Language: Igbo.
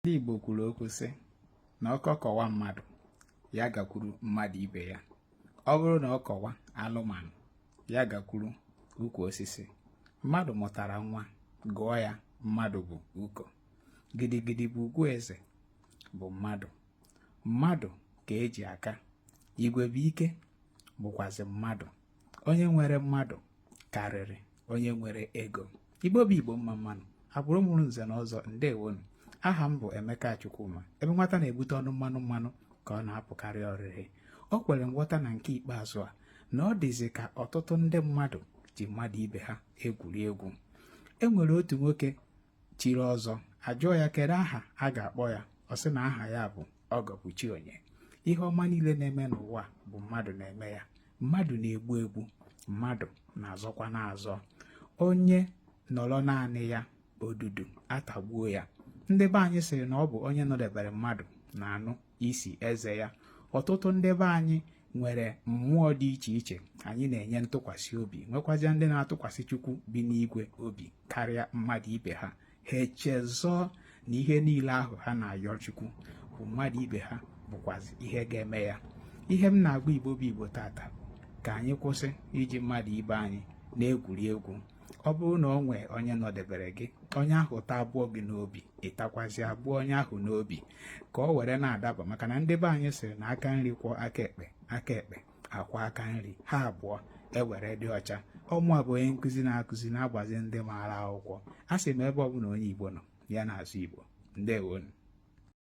ndị Igbo kwuru okwu sị na ọkọ kọwa mmadụ ya gakwuru mmadụ ibe ya ọ bụrụ na ọ kọwa alụmanụ ya gakwuru ukwu osisi mmadụ mụtara nwa gụọ ya mmadụ bụ uko gidigidi bụ ugwu eze bụ mmadụ mmadụ ka e ji aka igwe bụ ike bụkwazi mmadụ onye nwere mmadụ karịrị onye nwere ego igbo bụ igbo mma mma nụ agbụrụ mụrụ nze na ọzọ ndewonu aha m bụ emeka chukwuma ebe nwata na-ebute ọnụ mmanụ mmanụ ka ọ na-apụkarị ọrịrị o kwere nghọta na nke ikpeazụ a na ọ dịzi ka ọtụtụ ndị mmadụ ji mmadụ ibe ha egwuri egwu e nwere otu nwoke chiri ọzọ a jụọ ya kedụ aha a ga-akpọ ya ọ sị na aha ya bụ ọgọ bụ chi onye ihe ọma niile na-eme n'ụwa bụ mmadụ na-eme ya mmadụ na-egbu egbu mmadụ na-azọkwanụ azọ onye nọrọ naanị ya odudu atagbuo ya ndị be anyị sịrị na ọ bụ onye nọdebere mmadụ na-anụ isi eze ya ọtụtụ ndị be anyị nwere mmụọ dị iche iche anyị na-enye ntụkwasị obi nwekwazịa ndị na-atụkwasị Chukwu bi n'igwe obi karịa mmadụ ibe ha ha echezọọ na ihe niile ahụ ha na-ayọ Chukwu bụ mmadụ ibe ha bụkwazi ihe ga-eme ya ihe m na-agwa Igbo bụ Igbo taata ka anyị kwụsị iji mmadụ ibe anyị na-egwuri egwu ọ bụrụ na o nwee onye nọdebere gị onye ahụ ta abụọ gị n'obi ị takwazi abụọ onye ahụ n'obi ka o were na-adaba maka na ndị be anyị sịrị na aka nri kwọọ aka ekpe aka ekpe akwọọ aka nri ha abụọ ewere dị ọcha ọ mụwa bụ onye nkụzi na-akụzi na-agbazi ndị maara akwụkwọ asị m ebe ọbụla onye Igbo nọ ya na-asụ Igbo ndewonu